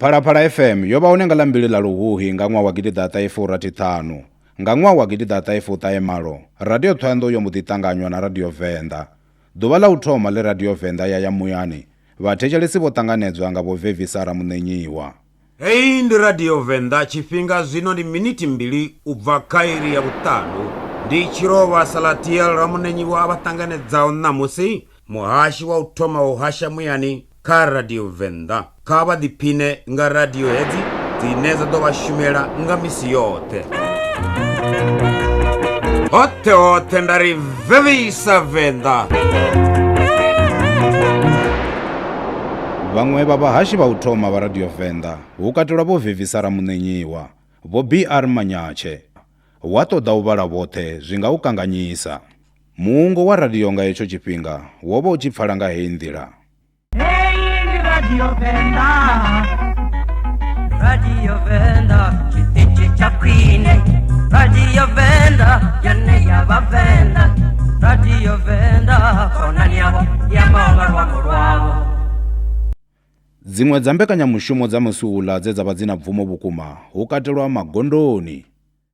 phalaphala fm yo vha hone nga ḽa mbili ḽa luhuhi nga ṅwaha wa gidiḓaṱahefurathiṱhanu nga ṅwaha wa gidiḓaṱahefuṱahemalo radio thohoyanḓou yo mbo ḓi ṱanganywa na radio venḓa ḓuvha ḽa u thoma ḽe radio venḓa ya ya muyani vhathetshelesi vho ṱanganedzwa nga vho vevisa ramuṋenyiwa Hei ndi radio venḓa tshifhinga zwino ndi minithi mbili u bva kha iri ya vhuṱanu ndi tshirovha salatiel ramuṋenyiwa a vha ṱanganedzaho ṋamusi muhashi wa u thoma u hasha muyani kha Radio Venḓa. Kha vha ḓiphine nga radio hedzi dzine dza ḓo vha shumela nga misi yoṱhe. Hoṱhe hoṱhe nda ri vevisa Venḓa. Vhaṅwe vha vhahashi vha u thoma vha Radio Venḓa hu katelwa vho Vevisa Ramuṋenyiwa, vho BR Manyatshe. Wa ṱoḓa u vhala vhoṱhe zwi nga u kanganyisa. Muungo wa radio nga hetsho tshifhinga wo vha u tshi pfala nga heyi nḓila. Heyi ndi radio Venḓa. Radio Venḓa tshiṱitshi tsha khwine. Radio Venḓa yone ya vhavenḓa. Radio Venḓa khonani yavho ya maola luambo lwavho. Dziṅwe dza mbekanyamushumo dza musi uḽa dze dza vha dzi na bvumo vhukuma hu katelwa Magondoni.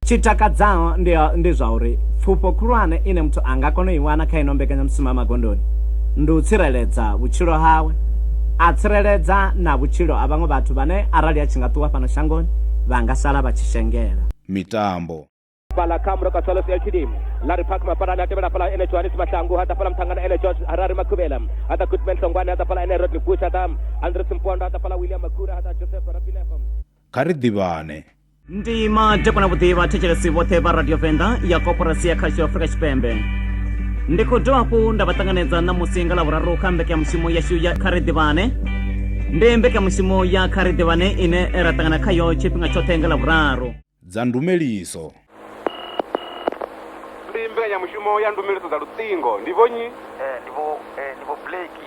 Tshi takadzaho ndi, ndi zwa uri pfufho khulwane ine muthu a nga kona u i wana kha ino mbekanyamushumo ya magondoni ndi u tsireledza vhutshilo hawe a tsireledza na vhutshilo ha vhaṅwe vhathu vhane arali a tshi nga ṱuwa fhano shangoni vha nga sala vha tshi shengela. Mitambo. fhala kha muroka solos ltd larry park mafarani a tevhela fhala ene johannes mashangu ha ḓa fhala muṱhangana ene george harari makhuvhela ha ḓa goodman hlongwane ha ḓa fhala ene rodney bush ha ḓa andres mpondo ha ḓa fhala william makura ha ḓa joseph rapineho kha ri ḓivhane ndi madekwa na vhuḓi vhathetshelesi vhoṱhe vha radio venḓa ya koporasi ya khasho afrika tshipembe ndi khou dovha hafhu nda vha ṱanganedza ṋamusi nga lavhuraru kha mbekanyamushumo yashu ya kha ri ḓivhane ndi mbekanyamushumo ya kha ri ḓivhane ine ra ṱangana khayo tshifhinga tshoṱhe nga lavhuraru dza ndumeliso ndi mbekanyamushumo ya ndumeliso dza luṱingo ndi vhonyi eh, ndi vho eh, ndi vho blake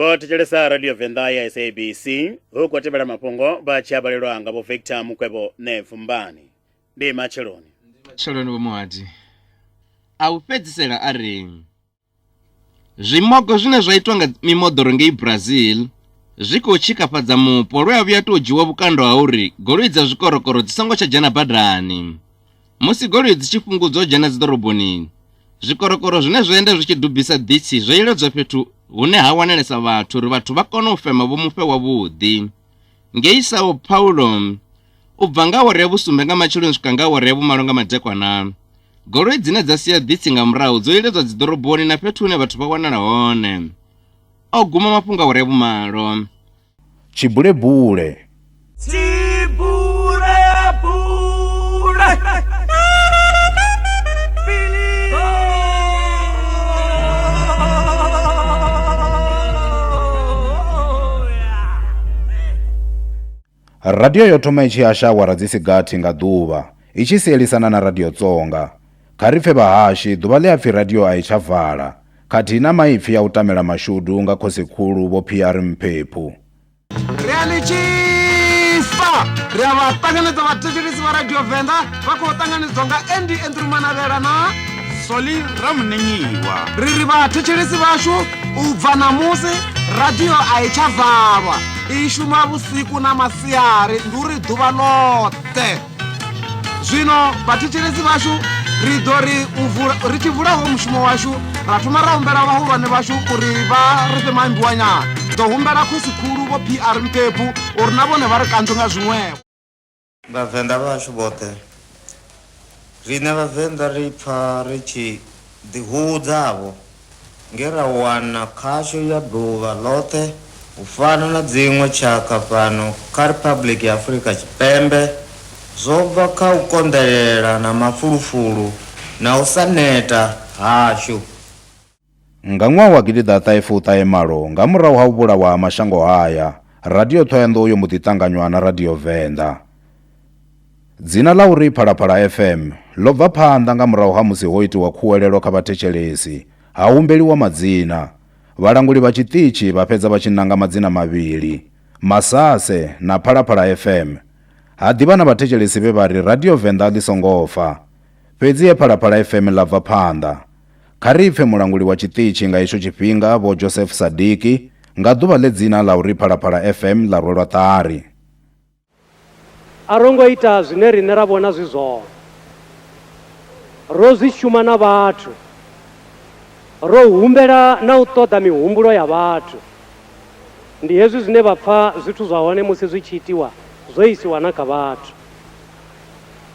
vho thetshelesa radio venḓa ya sabc hu khou tevhela mafhungo vha tshi abalelwa nga vho victor mukwevho nevumbani ndi matsheloni matsheloni vho muhadi a u fhedzisela a ri Zwimogo zwine zwa itwa nga mimoḓoro ngei Brazil zwi khou tshikafhadza mupo lwe a vhuya tou dzhiwa vhukando ha uri goloi dza zwikorokoro dzi songo tsha dzhena badani. Musi goloi dzi tshi fhungudzwa u dzhena dziḓoroboni, zwikorokoro zwine zwa enda zwi tshi dubisa ḓitshi zwo iledzwa fhethu hune ha wanalesa vhathu uri vhathu vha kone u fema vho mufe wavhuḓi. Ngei Sao Paulo, u bva nga awara ya vhusumbe nga matsheloni u swika nga awara ya vhumalo nga madekwana, goloi dzine dza sia ḓitsi nga murahu dzo iledzwa dziḓoroboni na fhethu hune vhathu vha wanala hone. O guma mafhungo awara ya vhumalo. Tshibulebule. Radio yo thoma i tshi hasha awara dzi si gathi nga ḓuvha, i tshi sielisana na Radio Tsonga. Kha ri pfe vhahashi, ḓuvha ḽe a pfi radio a i tsha vala, khathihi na maipfi a u tamela mashudu nga Khosi-khulu Vho Phiyari Mphephu. Ri a ni tshisa! Ri a vha ṱanganedza vhathetshelesi vha Radio Venḓa vha khou ṱanganedzwa nga andy andrew manavhela na soli ramunenyiwa ri ri vhathetshelesi vhashu u bva ṋamusi radio a i tsha valwa i shuma vhusiku na masiari ndi uri ḓuvha ḽoṱhe zwino vhathetshelesi vhashu ri ḓo ri ri tshi vulaho mushumo washu ra thoma ra humbela vhahulwane vhashu uri vha ri fhe maimbiwanyana ḓo humbela khosi khulu vho pr mpepu uri na vhone vha ri kanzwe nga zwiṅwevho Vhavenḓa vhashu vhoṱhe. Riṋe Vhavenḓa ri pfa ri tshi ḓihudza-vho nge ra wana khasho ya ḓuvha ḽoṱhe u fana na dziṅwe tshakha fhano kha Riphabuḽiki ya Afurika Tshipembe zwo bva kha u konḓelela na mafulufulu na u sa neta hashu. Nga ṅwaha wa gidi ḓa ṱahe fu ṱahe malo, nga murahu ha u vhulawa ha mashango haya, Radio Thohoyandou yo mbo ḓi ṱanganywa na Radio Venḓa. Dzina ḽa uri Phalaphala FM ḽo bva phanḓa nga murahu ha musi ho itiwa khuwelelo kha vhathetshelesi, ha humbeliwa madzina. Vhalanguli vha tshiṱitshi vha fhedza vha tshi nanga madzina mavhili, Masase na Phalaphala FM. Ha ḓi vha na vhathetshelesi vhe vha ri Radio Venḓa ḽi songo fa. Fhedzi he Phalaphala FM ḽa bva phanḓa. Kha ri pfe mulanguli wa tshiṱitshi nga hetsho tshifhinga, Vho Joseph Sadiki, nga ḓuvha ḽe dzina ḽa u ri Phalaphala FM ḽa rwelwa ṱari. A ro ngo ita zwine riṋe ra vhona zwi zwone. Ro zwi shuma na vhathu. Ro humbela na u ṱoḓa mihumbulo ya vhathu. Ndi hezwi zwine vha pfa zwithu zwa hone musi zwi tshi itiwa zwo isiwa na kha vhathu.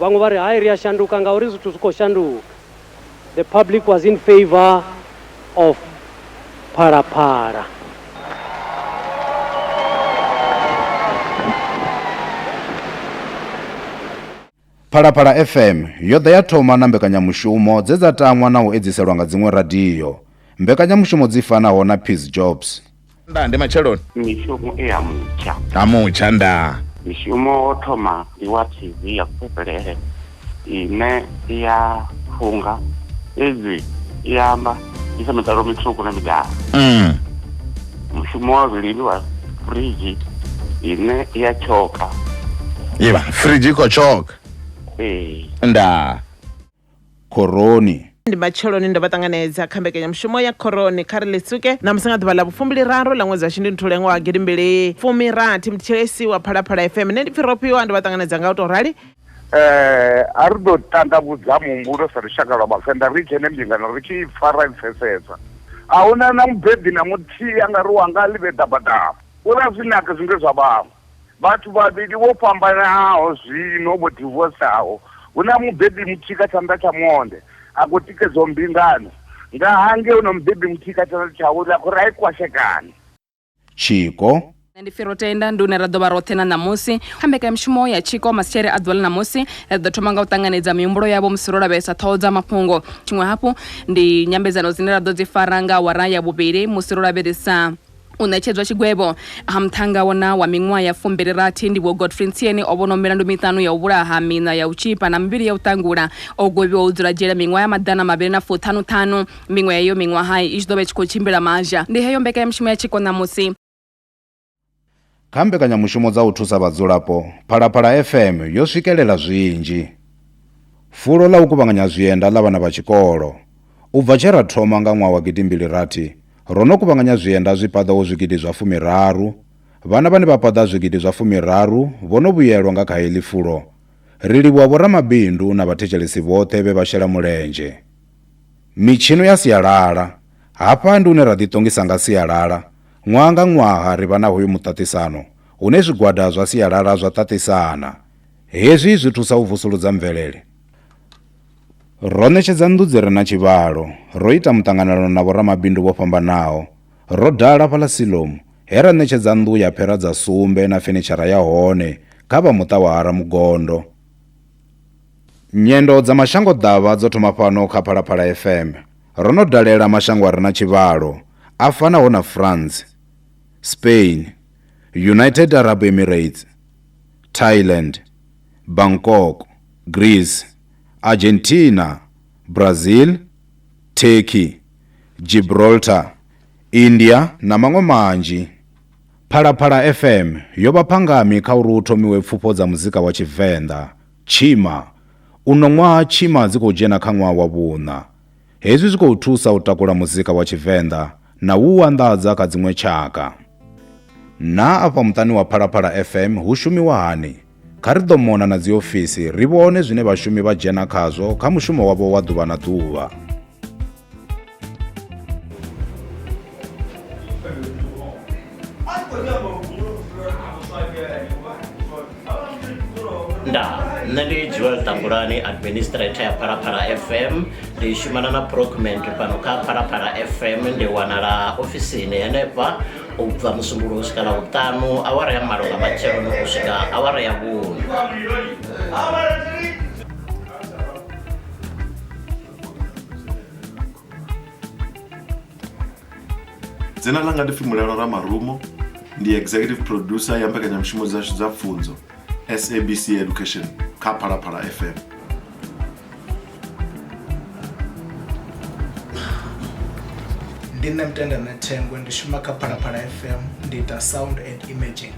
vhaṅwe vha ri hai ri a shanduka ngauri zwithu zwi khou shanduka the public was in favor of phalaphala Phalaphala FM yo ḓa ya thoma na mbekanyamushumo dze dza tangwa na u edziselwa nga dziṅwe radio. Mbekanyamushumo dzi fanaho na Peace Jobs. Nda ndi matsheloni. Mishumo i ya mutsha. Ha mutsha nda. Mishumo wo thoma ndi wa TV ya Kupeperele ine i ya funga fhedzi i ya amba i sa mitalo mitswuku na midala. Mm. Mushumo wa vhuvhili ndi wa fridge ine i ya tshoka. Ivha fridge i khou tshoka. Ee. Nda. Khoroni. Ndi matsheloni ndo vha ṱanganedza kha mbekanyamushumo ya Khoroni kha ri ḽitsuke ṋamusi nga ḓuvha ḽa vhufumbili-raru ḽa ṅwedzi wa Shundunthule ṅwaha wa gidimbili fumi rathi. Muthetshelesi wa Phalaphala FM nṋe ndi Pfirofhiwa, ndo vha ṱanganedza nga u tou rali. A ri ḓo tandavhudza muhumbulo sa lushaka lwa Vhavenḓa ri dzhene mbingano ri tshi i pfa ra i pfesesa. A hu na na mubebi na muthihi a nga ri wanga a ḽi vhe ḓabaḓaba, u ri a zwi naki zwine zwa vhaṅwe. Vhathu vhavhili vho fhambanaho zwino vho divosaho. Hu na mubebi muthihi kha tshanḓa tsha monde a khou tikedzwaho mbingano nga hangei, hu na mubebi muthihi kha tshanḓa tsha vhuṋe a khou ri a i kwashekane. Tshiko. Nṋe ndi Firotenda, ndi hune ra ḓo vha roṱhe na ṋamusi. Kha mbekanyamushumo ya tshiko masitshele a ḓuvha ḽa ṋamusi, ri ḓo thoma nga u ṱanganedza mihumbulo yavho musi ro lavhelesa ṱhoho dza mafhungo. Tshiṅwe hafhu, ndi nyambedzano dzine ra ḓo dzi fara nga awara ya vhuvhili musi ro lavhelesa. u ṋetshedzwa tshigwevho. A Muṱhannga wo na wa miṅwaha ya fumbili rathi ndi Vho Godfrey Ntsieni o vhonwa milandu miṱanu ya u vhulaha, miṋa ya u tzhipa na mivhili ya u ṱangula. O gwevhiwa u dzula dzhele miṅwaha ya maḓana mavhili na fuṱhanu ṱhanu. Miṅwe ya heyo miṅwaha i tshi ḓo vha i tshi khou tshimbila mazha. Ndi heyo mbekanyamushumo ya tshiko ṋamusi. Kha mbekanyamushumo dza u thusa vhadzulapo, Phalaphala FM yo swikelela zwinzhi. Fulo ḽa u kuvhanganya zwienda ḽa vhana vha tshikolo. U bva tshe ra thoma nga ṅwaha wa gidimbili rathi, ro no kuvhanganya zwienda zwi paḓaho zwigidi zwa fumiraru. Vhana vhane vha paḓa zwigidi zwa fumiraru vho no vhuyelwa nga kha heḽi fulo. Ri livhuwa vhoramabindu na vhathetshelesi vhoṱhe vhe vha shela mulenzhe. Mitshino ya sialala. Hafha ndi hune ra ḓiṱongisa nga sialala, Ṅwaha nga ṅwaha ri vha na hoyu muṱaṱisano hune zwigwada zwa sialala zwa ṱaṱisana. Hezwi zwi thusa u vusuludza mvelele. Ro ṋetshedza nnḓu dzi re na tshivhalo, ro ita muṱanganelano na vhoramabindu vho fhambanaho, ro dala fhaḽa Siloam he ra ṋetshedza nnḓu ya phera dza sumbe na fenitshara ya hone kha vha muṱa wa Ha Ramugondo. Nyendo dza mashangoḓavha dzo thoma fhano kha Phalaphala FM. Ro no dalela mashango a re na tshivhalo a fanaho na France, Spain, United Arab Emirates, Thailand, Bangkok, Greece, Argentina, Brazil, Turkey, Gibraltar, India na maṅwe manzhi. Phalaphala FM yo vha phangami kha uri hu thomiwe pfufho dza muzika wa Tshivenḓa Tshima, Uno ṅwaha tshima dzi khou dzhena kha ṅwaha wa vhuṋa. Hezwi zwi khou thusa u takula muzika wa Tshivenḓa na u u anḓadza kha dziṅwe tshaka. Naa afha muṱani wa Phalaphala FM hu shumiwa hani? Kha ri ḓo mona na dziofisi ri vhone zwine vhashumi vha dzhena khazwo kha mushumo wavho wa ḓuvha na ḓuvha. nṋe ndi joel tambulani administrator ya phalaphala fm ndi shumana na procment fhano kha phalaphala fm ndi wanala ofisini henefha u bva musumbulo u swika la vhuṱanu awara ya malo nga matsheloni u swika awara ya vhunu dzina langa ndi fimulelo ra marumo ndi executive producer ya mbekanyamushumo dzashu dza pfunzo sabc education kha phalaphala fm ndi nṋe mutenda na thengwe ndi shuma kha phalaphala fm ndi ita sound and imaging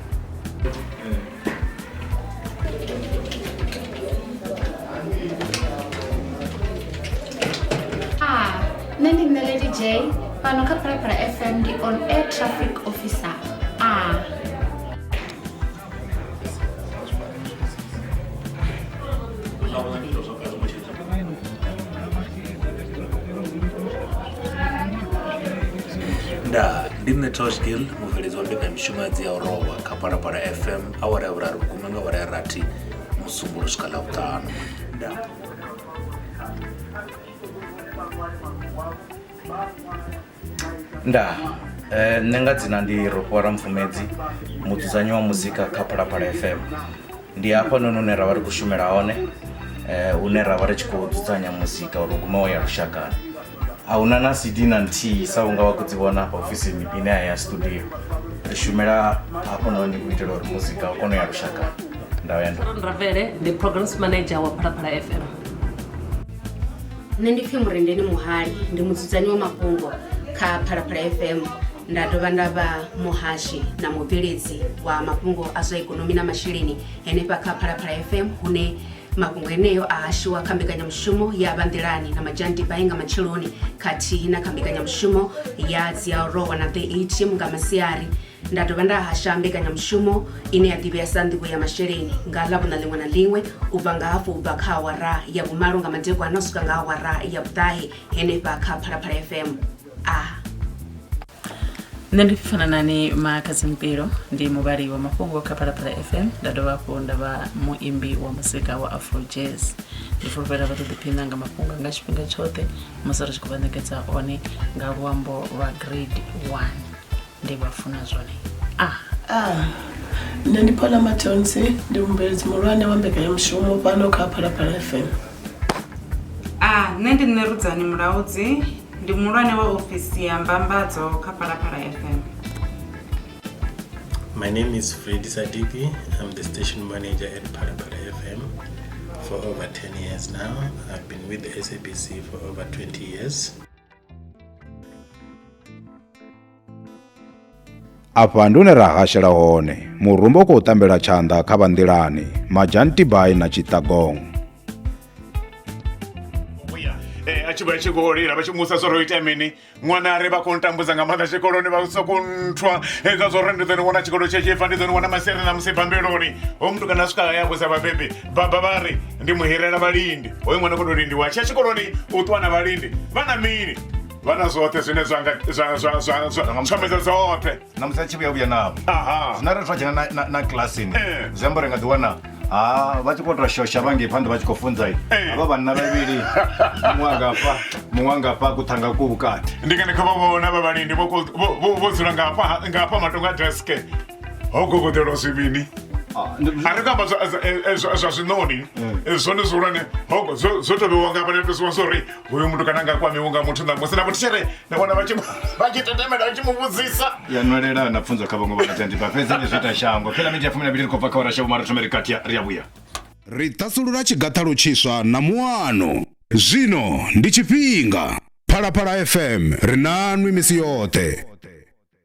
nṋe ndi nṋe lady j fhano kha phalaphala fm ndi on air traffic officer a nda ndi nṋe toshgil mubveledzi wa mbekanyamishumo ya dzi ya u rowa kha parapara fm awara ya vhuraru vhukuma nga awara ya rathi musumbulo swika ḽa vhuṱanu nda Thank you. ndaa eh, nṋe nga dzina ndi rofhiwara mpfumedzi mudzudzanyi wa muzika kha phalaphala fm ndi hafha noni hune ra vha ri khou shumela hone eh, hune ra vha ri tshi khou dzudzanya muzika uri guma wo ya lushakani a huna na cd na nthihi sa unga wa khou dzi vhona hafha ofisini ine a ya studio ri shumela hafho noni u itela uri muzika u kone u ya lushakani ndavha ya ndo Sharon Ravele, the programs manager wa Phalaphala FM. nṋe ndi pfhi murendeni muhali ndi mudzudzanyi wa mafhungo kha phalaphala fm nda dovha nda vha muhashi na mubveledzi wa mafhungo a zwa ikonomi na masheleni henefha kha phalaphala fm hune mafhungo eneyo a hashiwa kha mbekanyamushumo ya vhanḓilani na madzhandibai nga matsheloni khathihi na kha mbekanyamushumo ya dziarowa na 38 nga masiari nda dovha nda hasha mbekanyamushumo ine ya ḓivhea sa nḓivho ya masheleni nga ḽa vhuna ḽiṅwe na ḽiṅwe u bva nga hafhu u bva kha awara ya vhumalo nga madekwana u swika nga awara ya vhuṱahe henefha kha phalaphala fm a nṋe ndi fana nani makhadzi mpilo ndi muvhali wa mafhungo kha phalaphala fm nda dovha hafhu nda vha muimbi wa muzika wa afro jazz ndi fulufhela vha ṱoḓiphina nga mafhungo nga tshifhinga tshoṱhe musi ri tshi khou vha ṋekedza one nga luambo lwa grade one ndi vha funa zwone a ah. ah. nṋe ndi phala matonsi ndi mubveledzi muhulwane wa mbekanyamushumo fhano kha phalaphala fm a ah, nṋe ndi nṋe rudzani mulaudzi ndi muhulwane wa ofisi ya mbambadzo kha phalaphala fm My name is Freddy Sadiki. I'm the station manager at Parapara FM for over 10 years now. I've been with the SABC for over 20 years. afha ndi hune ra hashela hone murumba u khou tambela tshanḓa kha vhanḓilani majantibai na tshiṱagong Eh, a tshi vha tshi khou lila vha tshi musa zwori o ita mini ṅwana ari vha khou ntambudza nga maanḓa tshikoloni vha sokou nthwa hezwa zwori ndi ḓo ni wana tshikolo tshe tshi fa ndi ḓo ni wana masiari na musi bambeloni ho mutukana a swika haya vhusa vhabebi baba vha ri ndi muhirela vhalindi hoyu ṅwana kho to lindiwa tshia tshikoloni u ṱuwa na vhalindi vha na mini vha na zwoṱhe zwine zwangazwamedza dzoṱhe na musi a tshi vhuya vhuya navho aha zwina ri twa dzhena na- na- na kilasini Eh. zwi amba uri nga ḓiwana ha vha tshi khou tou shosha vhangei phanḓa vha tshi khou funza i Eh. havha vhanna vhavhili muṅwe angafha muṅwe angafha kuṱhanga ku vhukati ndi ngani kha vha vhona vha vhalindi vho ko- vho- vho- vho dzula ngafha ngafha matonga deske ho gogodelwa zwivhini Ah, ndi- a ri kho amba zwa- zwa- eh, eh, zwa zwa zwinoni Eh, zwone zwihulwane hogo zwo zwo to vhewa nga vhanetosiwa zwori uyu muthu kana nga kwamiwo nga muthu ṋamusi na muthishere na vhona vha tshi mu- vha tshi tetemela vha tshi mu vhudzisa ya nwelela na pfunzo kha vhaṅwe vhanatendi vha fhedza ndi zwi ita shango phela minzhi ya fumi na mbili ri khou bva kha warasha vhumari thomeri kati ya- ri a vhuya ri ṱhasulula tshigathalo tshiswa na muano zwino ndi tshifhinga phalaphala fm ri nanwi misi yoṱhe